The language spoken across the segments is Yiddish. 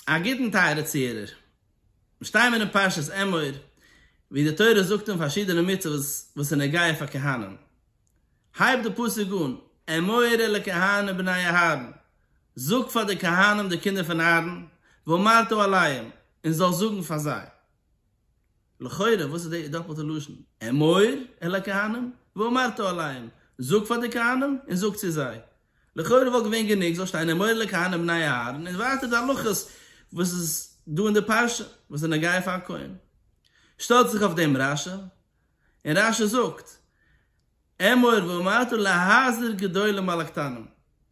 א גוטן טייערע צוהערער. מיר שטייען מיר אין פרשת אמור, ווי די תורה זאגט אן פארשידענע מצוות וואס איז נוגע פאר כהנים. הייבט די פסוק אן, אמור אל הכהנים בני אהרן, זאג פאר די כהנים די קינדער פון אהרן, ואמרת אליהם, און זאלסט זאגן פאר זיי. לכאורה וואס איז די דאפלטע לשון? אמור אל הכהנים ואמרת אליהם, זאג פאר די כהנים און זאג צו זיי. לכאורה וואלט געווען גענוג זאל שטיין אמור אל הכהנים בני אהרן און ווייטער די הלכות וואס איז דא אין די פרשה וואס איז נוגע פאר א כהן. שטעלט זיך אויף דעם רשי און רשי זאגט אמור ואמרת להזהיר גדולים על הקטנים.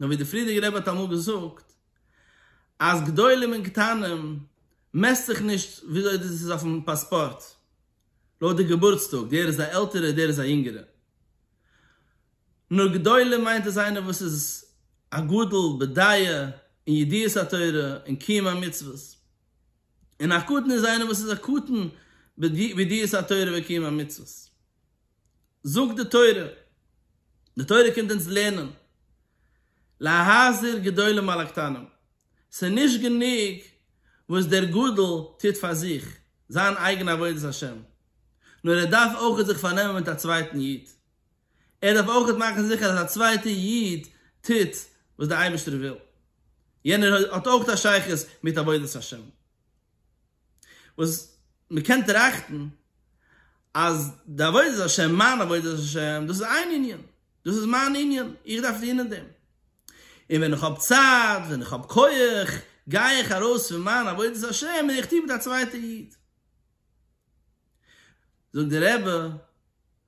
נאר ווי דער פריערדיגער רבי האט אמאל געזאגט אז גדולים און קטנים מעסט זיך נישט וויאזוי דאס איז אויפן פאספארט לויט די געבורטס טאג דער איז א עלטערער דער איז א יונגערער נאר גדולים מיינט איז איינער וואס איז א גדול בדעה און ידיעת התורה און קיום המצוות און א קטן איז איינער וואס איז א קטן בידיעת התורה וקיום המצוות. זאגט די תורה, די תורה קומט אונז לערנען, להזהיר גדולים על הקטנים, ס'איז נישט גענוג וואס דער גדול טוט פאר זיך זיין אייגענע עבודת השם, נאר ער דארף אויך זיך פארנעמען מיט א צווייטן איד, ער דארף אויך מאכן זיכער אז א צווייטע איד טוט וואס דער אייבערשטער וויל, יענער האט אויך א שייכות מיט עבודת השם. וואס מ'קען טראכטן אז די עבודת השם, מיין עבודת השם, דאס איז איין ענין, דאס איז מיין ענין, איך דארף טון אין דעם, און ווען איך האב צייט, ווען איך האב כח, גיי איך ארויס פון מיין עבודת השם און איך טו מיט א צווייטע איד. זאגט דער רבי,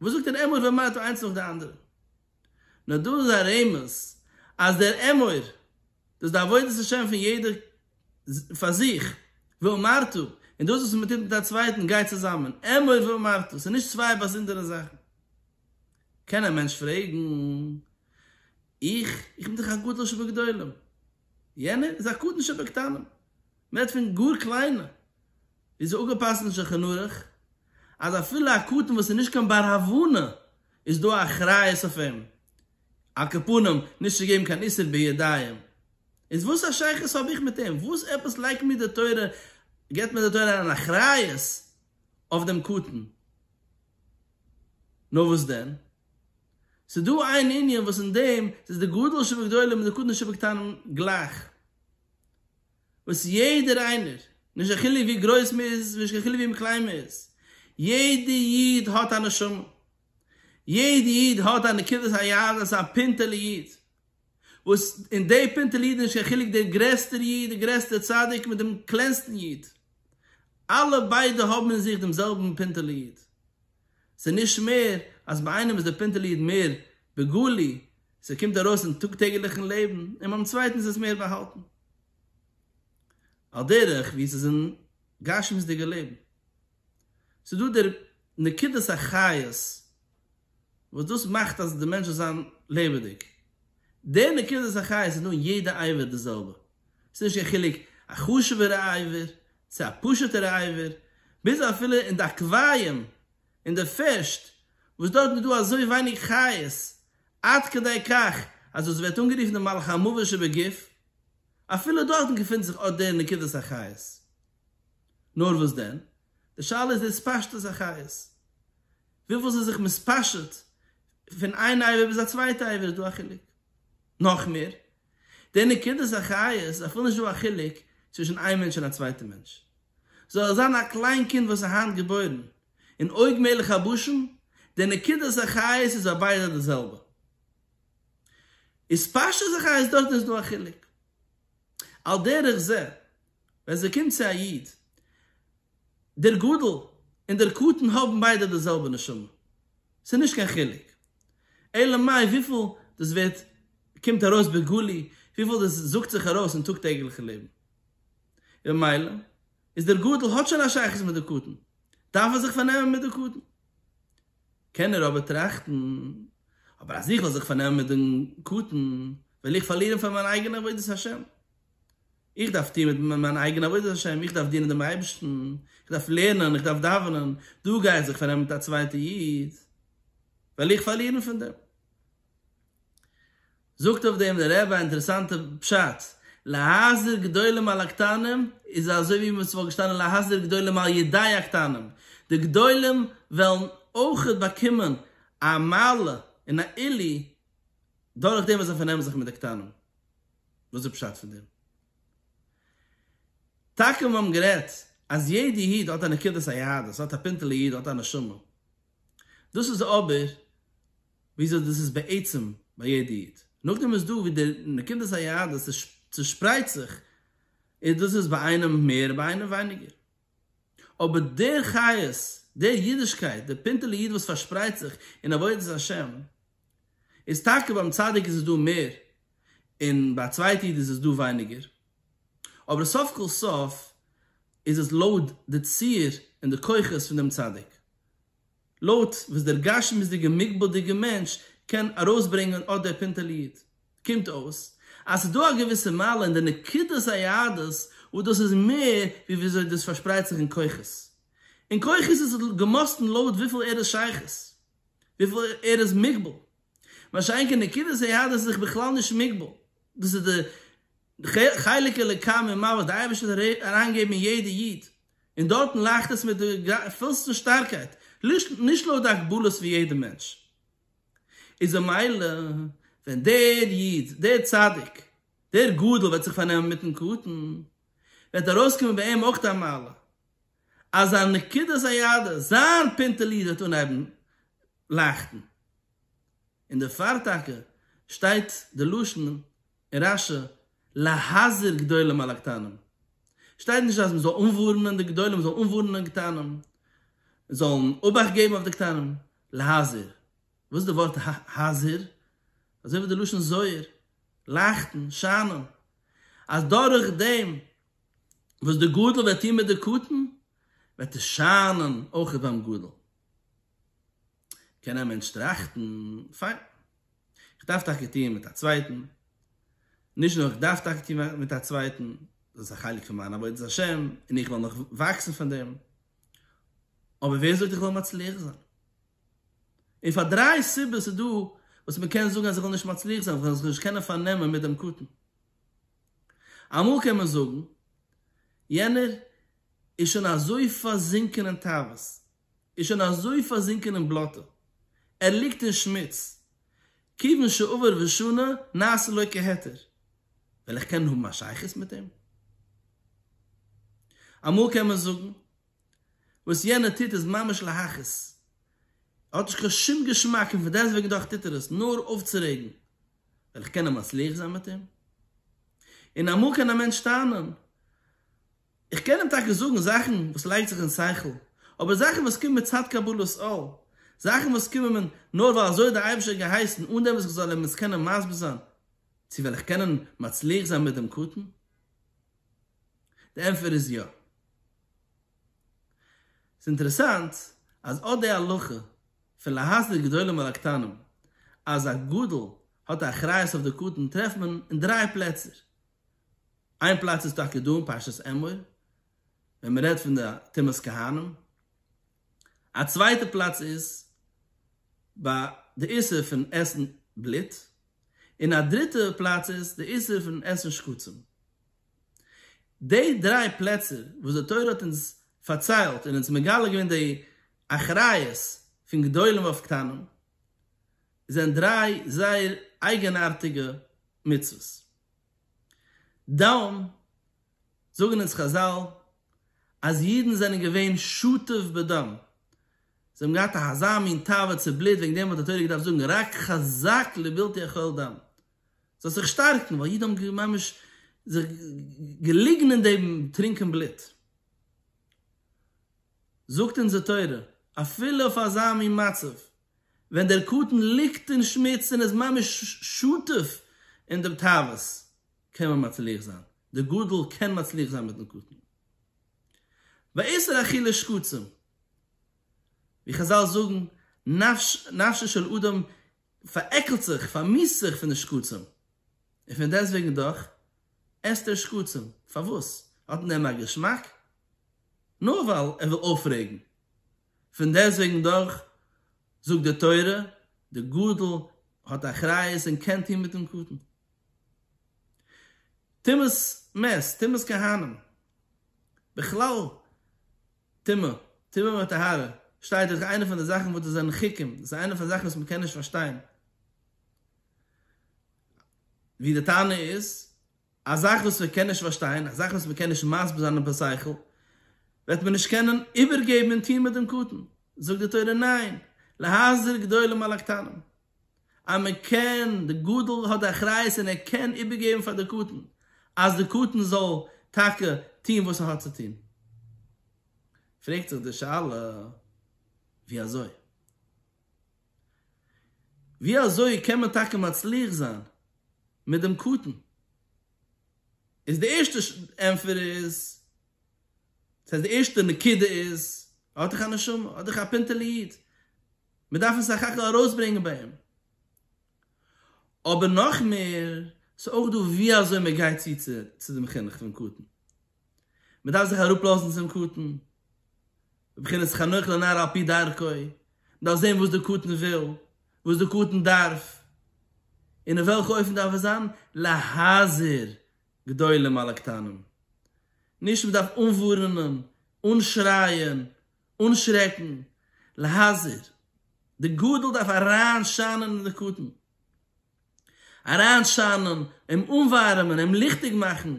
וואס זאגט דער אמור ומה טו איינס נאך די אנדערע? נאר דא איז א רמז אז דער אמור דאס די עבודת השם פון יעדער פאר זיך, ואמרתו, און דאס וואס מען טוט מיט א צווייטן גייט צוזאמען, אמור ואמרתו, ס'איז נישט צוויי באזונדערע זאכן. קען א מענטש פרעגן, איך, איך בין דאך א גדול שבגדולים, יענער איז א קטן שבקטנים. מ'רעדט פון גאר קליינע, ווי ס'איז אפגעפאסט אין שולחן ערוך אז אפילו א קטן וואס איז נישט קיין בר הבנה איז דא א אחריות אויף אים על כל פנים נישט צו געבן קיין איסור בידיים, איז וואס א שייכות האב איך מיט אים? וואס עפעס לייגט מיר די תורה, געבט מיר די תורה אריין אחריות אויף דעם קטן? נאר וואס דען? ס'איז דא איין ענין וואס אין דעם איז די גדול שבגדולים און די קטן שבקטנים גלייך. וואס יעדער איינער, נישט קיין חילוק ווי גרויס מען איז, נישט קיין חילוק ווי קליין מען איז, יעדע איד האט א נשמה, יעדע איד האט א נקודת היהדות, א פינטעלע איד, וואס אין די פינטעלע איד איז נישט קיין חילוק דער גרעסטער איד, דער גרעסטער צדיק מיט דעם קלענסטן איד, אלע ביידע האבן אין זיך דעם זעלבן פינטעלע איד. ס'נישט מער אז ביי איינעם איז די פינטעלע איד מער בגלוי, ס'קומט ארויס אין טאג טעגעליכן לעבן, און ביים צווייטן איז עס מער באהאלטן. על דרך ווי ס'איז אין גשמיות'דיגע לעבן. ס'דא דער נקודת החיות וואס דאס מאכט אז די מענטש זאל זיין לעבעדיג. דער נקודת החיות איז דא אין יעדע עבר די זעלבע. ס'איז נישט קיין חילוק א חשוב'ער עיוור צו א פשוט'ער עיוור, ביז אפילו אין די עקוואיעם אין די פישט, וואס דארטן איז דא אזוי ווייניג חיות, עד כדי כך אז דאס ווערט אנגערופן די מלאך המוות שבגוף, אפילו דארטן געפינט זיך אט דער נקודת החיות. נאר וואס דען, די שאלה איז די התפשטות החיות, וויפיל ס'איז זיך מתפשט פון איין עיוור ביז א צווייטע עיוור, איז דא א חילוק? נאך מער, די נקודת החיות זיי פון נישט דא א חילוק צווישן איין מענטש און א צווייטע מענטש זאל ער זיין א קליין קינד וואס איז היינט געבוירן אין אויג מלך הבשן די נקודת החיות איז ביי ביידע די זעלבע איז פשט אז החיות דארט איז דא א חילוק על דרך זה ווען ס'קומט צו א איד דער גדול און דער קטן האבן ביידע די זעלבע נשמה ס'נישט קיין חילוק אלא מאי וויפיל דאס ווערט קומט ארויס בגלוי וויפיל דאס זאגט זיך ארויס אין טאג טעגליכע לעבן, און ממילא איז דער גדול האט שוין א שייכות מיט די קטן, דארף ער זיך פארנעמען מיט די קטן. קען ער אבער טראכטן, אבער אז איך וועל זיך פארנעמען מיט דעם קטן, וועל איך פארלירן פאר מיין אייגענע עבודת השם. איך דארף טון מיט מיין אייגענע עבודת השם, איך דארף דינען דעם אייבערשטן, איך דארף לערנען, איך דארף דאווענען, דא גיי איך זיך פארנעמען מיט א צווייטע איד, וועל איך פארלירן פון דעם? זאגט אויף דעם דער רבי א אינטערעסאנטע פשט, להחזיר גדולים על הקטנים איז אזוי ווי ווען ס'וואלט געשטאנען להחזיר גדולים על ידי הקטנים, די גדולים וועלן אויכעט באקומען א מעלה און א עלי' דורך דעם וואס זיי פארנעמען זיך מיט די קטנים. וואס איז פשט פון דעם? טאקע מיר האבן גערעדט אז יעדע איד האט א נקודת היהדות, האט א פינטעלע איד, האט א נשמה, דאס איז אבער. וויאזוי דאס איז בעצם ביי יעדע איד, נאכדעם איז דא ווי די נקודת היהדות איז צושפרייט זיך, און דאס איז ביי איינעם מער און ביי איינעם ווייניגער, אבער דער חיות, דער אידישקייט, דער פינטעלע איד וואס פארשפרייט זיך אין עבודת השם, איז טאקע ביים צדיק איז עס דא מער, און ביי א צווייטע איד איז עס דא ווייניגער, אבער סוף כל סוף איז עס לויט די ציר און די כוחות פון דעם צדיק. לויט וואס דער גשמיות'דיגער מוגבל'דיגער מענטש קען ארויסברענגען אט דער פינטעלע איד, קומט אויס אז ס'איז דא א געוויסע מעלה אין די נקודת היהדות וואס דאס איז מער ווי וויאזוי דאס פארשפרייט זיך אין כוחות. אין כוחות איז עס געמאסטן לויט וויפיל ער איז שייכות, וויפיל ער איז מוגבל. מה שאין כן נקודת היהדות איז זיך בכלל נישט מוגבל. דאס איז די חלק אלוקי ממעל וואס דער אייבערשטער וועט אריינגעבן אין יעדע איד, און דארטן לאכט עס מיט די פולסטן שטארקייט, נישט לויט די הגבלות פון יעדע מענטש. איז ממילא ווען דער איד, דער צדיק, דער גדול וועט זיך פארנעמען מיטן קטן, וועט ארויסקומען ביי אים אויך די מעלה, אז זיין נקודת הידה, זיין פינטעל איד וועט אנהייבן לייכטן. און דערפאר טאקע שטייט די לשון אין רש י להזהיר גדולים על הקטנים שטייט נישט אז מען זאל אנווארענען די גדולים, מען זאל אנווארענען קטנים, זאלן אובאכט געבן אויף די קטנים, להזהיר, וואס איז די ווארט הזהיר? אזוי ווי די לשון זוהר, לייכטן, שיינען, אז דורך דעם וואס די גדול וועט טון מיט די קטן וועט עס שיינען אויך ביים גדול. קען א מענטש טראכטן, פיין, איך דארף טאקע טוען מיט א צווייטן, נישט נאר איך דארף טאקע טוען מיט א צווייטן, דאס איז א חלק פון מיין עבודת השם און איך וועל נאך וואקסן פון דעם, אבער ווער זאגט איך וועל מצליח זיין? און פאר דריי סיבות איז דא וואס מען קען זאגן אז איך וועל נישט מצליח זיין, וועל איך זיך נישט קענען פארנעמען מיט דעם קטן. אמאל קען מען זאגן, יענער איז שוין אזוי פארזינקען אין תאוות, איז שוין אזוי פארזינקען אין בלאטע, ער ליגט אין שמוץ, כיוון שעבר ושנה נעשה שלא כהיתר, וועל איך קענען האבן א שייכות מיט אים? אמאל קען מען זאגן, וואס יענער טוט איז ממש להכעיס, ער האט נישט קיין שום געשמאק און פון דעסט וועגן דאך טוט ער עס נאר אויפצורעגן, וועל איך קענען מצליח זיין מיט אים? און אמאל קען א מענטש טענה'ן, איך קען אים טאקע זאגן זאכן וואס לייגט זיך אין שכל, אבער זאכן וואס קומען מצד קבלת עול, זאכן וואס קומען מיר נאר ווייל אזוי האט דער אייבערשטער געהייסן אן דעם וואס איך זאל אים עס קענען מסביר זיין, צו וועל איך קענען מצליח זיין מיט דעם קטן? די ענטפער איז יא. ס'איז אינטערעסאנט אז אט די הלכה פון להסדיר גדולים על הקטנים אז א גדול האט א אחריות אויף די קטן טרעפט מען אין דריי פלעצער. איין פלאץ איז טאקע דא אין פרשת אמור ווען מען רעדט פון די טומאת כהנים, א צווייטע פלאץ איז ביי די איסור פון עסן בלוט, און א דריטע פלאץ איז די איסור פון עסן שקצים. די דריי פלעצער וואס די תורה האט אונז פארציילט און אונז מגלה געווען די אחריות פון גדולים אויף קטנים, זענען דריי זייער אייגענארטיגע מצוות. דאן זאגן אונז חזל אז אידן זענען געווען שותף בדם, זיי האבן געהאט אזא מין תאווה צו בלוט, וועגן דעם האט די תורה געדארפט זאגן רק חזק לבלתי אכול דם, זאלסט זיך שטארקן, ווייל אידן האבן ממש זיך געליגן אין דעם טרינקען בלוט. זאגט אונז די תורה, אפילו אויף אזא מין מצב, ווען דער קטן ליגט אין שמוץ און איז ממש שותף אין דעם תאוות, קען מען מצליח זיין, דער גדול קען מצליח זיין מיטן קטן. ואיסור אכילת שקצים, ווי חזל זאגן, נפשו של אדם פארעקלט זיך, פארמאסט זיך פון די שקצים, און פון דעסט וועגן דאך עסט ער שקצים, פארוואס? האט אין דעם א געשמאק? נאר ווייל ער וויל אויפרעגן, פון דעסוועגן דאך זאגט די תורה, די גדול האט אחריות און קען טון מיטן קטן. טומאת מת, טומאת כהנים, בכלל טומאה, טומאה וטהרה, שטייט דאך איינע פון די זאכן וואס דאס זענען חוקים, דאס איז איינע פון די זאכן וואס מען קען נישט פארשטיין, ווי די טענה איז א זאך וואס מען קען נישט פארשטיין, א זאך וואס מען קען נישט מסביר זיין און בשכל, וועט מען נישט קענען איבערגעבן און טון מיט דעם קטן? זאגט די תורה, ניין, להחזיר גדולים על הקטנים, אז מען קען, די גדול האט די אחריות און ער קען איבערגעבן פאר די קטן, אז די קטן זאל טאקע טון וואס ער האט צו טון. פרעגט זיך די שאלה, ווי אזוי? ווי אזוי קען מען טאקע מצליח זיין מיט דעם קטן? איז די ערשטע ענפער איז, דאס הייסט די ערשטע נקודה איז, ער האט דאך א נשמה, ער האט דאך א פינטעלע איד, מען דארף עס סך הכל ארויסברענגען ביי אים. אבער נאך מער, ס'איז אויך דא ווי אזוי מען גייט צו צו דעם חינוך פון קטן. מען דארף זיך אראפלאזן צום קטן, בבחינת חנוך לנער על פי דרכו, מען דארף זען וואס דער קטן וויל, וואס דער קטן דארף, און אין וועלכע אופן דארף עס זיין, להזהיר גדולים על הקטנים, נישט מען דארף אנווארענען, אנשרייען, אנשרעקן, להזהיר, דער גדול דארף אריינשיינען אין דער קטן. אריינשיינען, אים אנווארעמען, אים ליכטיג מאכן,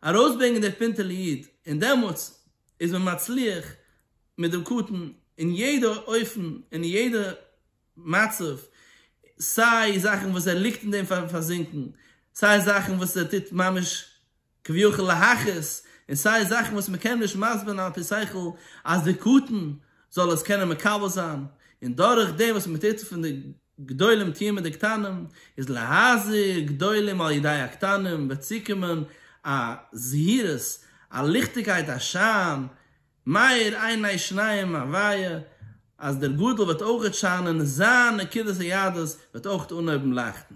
ארויסברענגען דער פינטעלע איד, און דעמאלטס איז מען מצליח מיט דעם קטן אין יעדע אופן, אין יעדע מצב, סיי זאכן וואס ער ליגט אין דעם פארזינקן, סיי זאכן וואס ער טוט ממש כביכול להכעיס, און סיי זאכן וואס מען קען נישט מסביר זיין על פי שכל אז דער קטן זאל עס קענען מקבל זיין, און דורך דעם וואס מען טוט צו פון די גדולים טוען מיט די קטנים, איז להזהיר גדולים על ידי הקטנים וועט צוקומען א זהירות, א ליכטיגקייט א שיין, מאיר עיני שניהם אוואי אז דער גדול וועט אויכעט שיינען און זיין נקודת היהדות וועט אויכעט אנהויבן לייכטן.